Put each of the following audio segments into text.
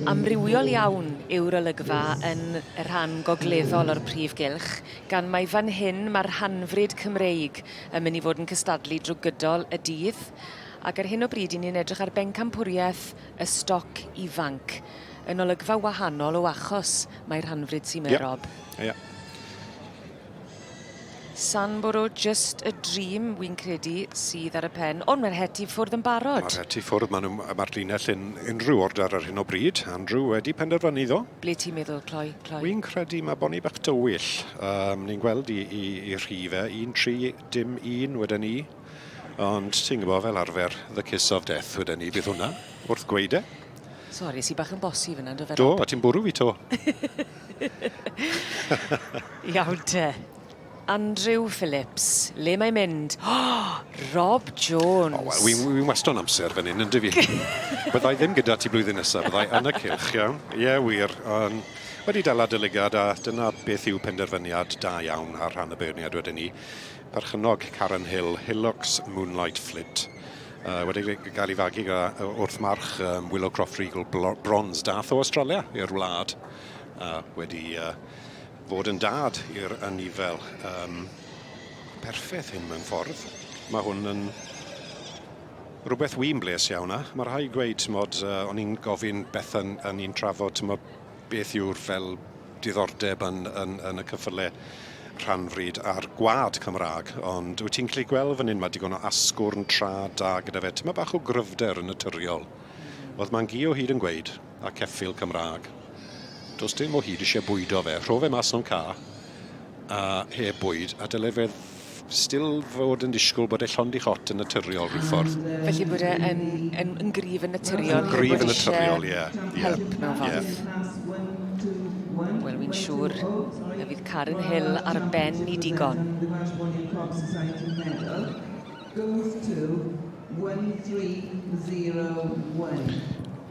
Amrywiol iawn yw'r olygfa yn y rhan gogleddol o'r prif gylch, gan mai fan hyn mae'r rhanfryd Cymreig yn mynd i fod yn cystadlu drwy gydol y dydd. Ac ar hyn o bryd 'yn ni'n edrych ar bencampwriaeth y stoc ifanc, yn olygfa wahanol o achos mai rhanfryd sy 'ma, Rob. Ie. Ie. Sandboro just a dream wi'n credu sydd ar y pen, ond mae'r het i ffwrdd yn barod. Mae'r het i ffwrdd, maen nhw, mae'r linell yn unrhyw order ar hyn o bryd. Andrew wedi penderfynu iddo. Ble ti'n meddwl, Cloi? Cloi? Wi'n credu mae Bonnie bach dywyll. Um, ni'n gweld i, i, i rhi fe, un tri, dim un, wedyn ni. Ond ti'n gwybod fel arfer, the kiss of death, wedyn ni, bydd hwnna, wrth gweud e. Sori, si bach yn bosi fyna, do fe? Do, a ti'n bwrw fi to. Iawn te. Andrew Phillips, le mae'n mynd? Rob Jones! O, wel, wi'n wi wasto yn amser fan hyn, ynddi fi? Byddai ddim gyda ti blwyddyn nesaf, byddai yn y cylch, iawn? Ie, yeah, wir. Um, wedi dal adolygiad, a dyna beth yw penderfyniad da iawn ar rhan y beirniad wedyn ni. Perchynog Karen Hill, Hilux Moonlight Flint. Uh, wedi gael ei fagu wrth march um, Willow Croft Regal Bronze. Dath o Australia i'r wlad. A wedi uh, fod yn dad i'r anifail um, perffaith hyn mewn ffordd. Mae hwn yn rhywbeth wy'n bles iawn a mae rhai gweud, tymod, uh, o'n i'n gofyn beth yn, yn i'n trafod, tymod, beth yw'r fel diddordeb yn, yn, yn y cyffyle rhanfryd a'r gwad Cymraeg, ond wyt ti'n gallu gweld fan hyn, mae digon o asgwrn tra da gyda fe. Ti'n bach o gryfder yn naturiol. Oedd Mangio hyd yn gweud, a ceffyl Cymraeg. Does dim o hyd eisiau bwydo fe. Rho fe mas o'n ca a heb bwyd a dyle fe still fod yn disgwyl bod e llond i hot yn naturiol rhyw ffordd. Felly bod e yn, yn, yn gryf yn naturiol. Yn gryf yn naturiol, ie. Help mewn ffordd. Wel, fi'n siŵr y fydd Karen Hill ar ben i digon. Goes to 1301.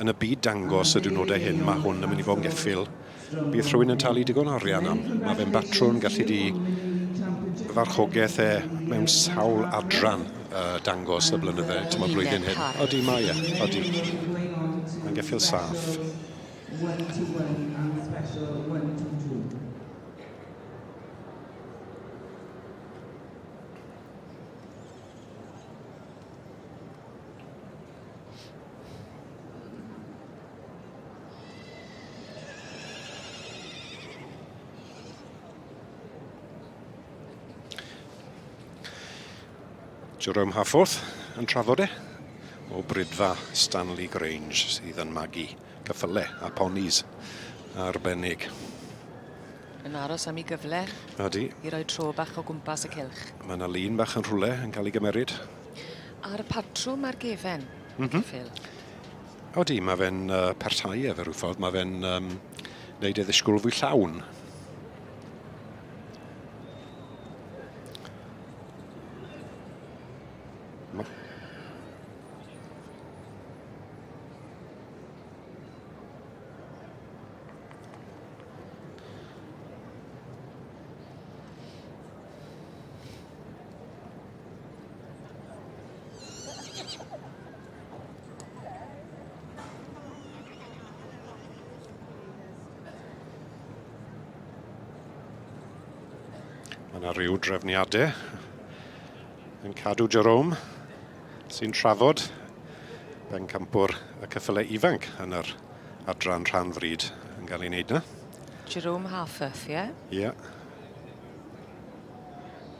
yn y byd dangos y diwrnodau hyn, mae hwn yn mynd i fod yn geffyl. Bydd rhywun yn talu digon o arian am. Mae fe'n batrwn gallu di farchogaeth e mewn sawl adran uh, dangos y blynydde, ti'n meddwl blwyddyn hyn. Odi, mae e, odi. Mae'n geffyl saff. Jerome Hafforth yn trafod e o brydfa Stanley Grange sydd yn magu cyffyle a ponis arbennig. Yn aros am ei gyfle Ydy. i roi tro bach o gwmpas y cylch. Mae yna lun bach yn rhywle yn cael ei gymeryd. A'r patrwm a'r gefen, mm -hmm. Phil. Odi, mae fe'n uh, parhau efe rhyw ffordd, mae fe'n um, neud ei ddisgwyl fwy llawn. Mae yna rhyw drefniadau yn cadw Jerome sy'n trafod bencampwr y cyffylau ifanc yn yr adran rhan fryd yn cael ei wneud yna. Jerome Halfeth, ie? Yeah? Ie. Yeah.